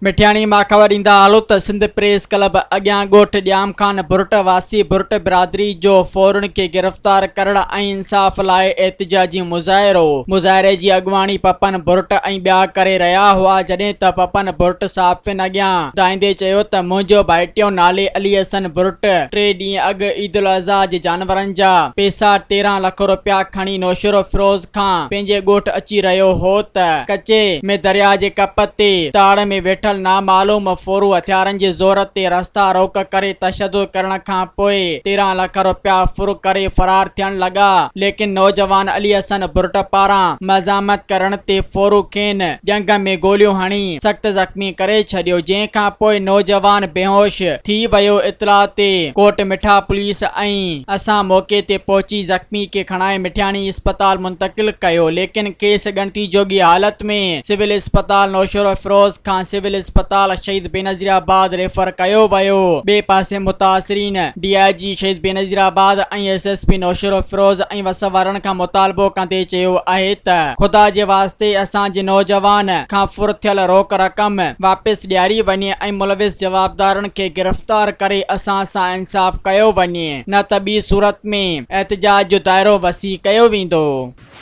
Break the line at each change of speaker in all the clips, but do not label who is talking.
مٺياڻي ماخوذ ڏيندا هلو ته سنڌ پريس ڪلب اڳيان ڳوٺ ڄام خان ڀرٽ واسي ڀرٽ برادري جو ڦورن کي گرفتار ڪرڻ ۽ انصاف لاء احتجاجي مظاهرو مظاهري جي اڳواڻي پپن ڀرٽ ۽ ٻيا ڪري رهيا هئا جڏهن ته پپن ڀرٽ صحافين اڳيان ڌائيندي چيو ته منهنجو ڀائٽيو نالي علي حسن ڀرٽ ٽي ڏينهن اڳ عيدالاضحيٰ جي جانورن جا پيسا تيرهن لک روپيا کڻي نوشهرو فيروز کان پنهنجي ڳوٺ اچي رهيو هو ته ڪچي ۾ درياء جي ڪپ تي تاڙ ۾ ويٺل نامعلوم ڦورو هٿيارن جي زور تي رستا روڪ ڪري تشدد ڪرڻ کان پوء تيرهن لک روپيا ڦر ڪري فرار ٿيڻ لڳا ليڪن نوجوان علي حسن ڀرٽ پاران مزاحمت ڪرڻ تي ڦورو کين ڄنگهه ۾ گوليون هڻي سخت زخمي ڪري ڇڏيو جنهن کان پوء نوجوان بيهوش ٿي ويو اطلاع تي ڪوٽ مٺا پوليس ۽ اسان موقعي تي پهچي زخمي کي کڻائي مٺياڻي اسپتال منتقل ڪيو ليڪن کيس ڳڻتي جوڳي حالت ۾ سول اسپتال نوشهروفيروز کان سول اسپتال شهيد بينظير آباد ريفر ڪيو ويو ٻئي پاسي متاثرين D I G Shaheed Benazirabad ۽ S S P Naushahro Feroze ۽ وس وارن کان مطالبو ڪندي چيو آهي ته خدا جي واسطي اسان جي نوجوان کان ڦر ٿيل روڪ رقم واپس ڏياري وڃي ۽ ملوث جوابدارن کي گرفتار ڪري اسان سان انصاف ڪيو وڃي نه ته ٻي صورت ۾ احتجاج جو دائرو وسيع ڪيو ويندو.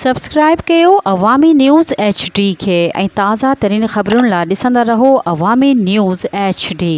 سبسڪرائيب
ڪيو عوامي نيوز ايڇ ڊي کي ۽ تازه ترين خبرن لا ڏسندا رهو عوامي نيوز ايڇ ڊي.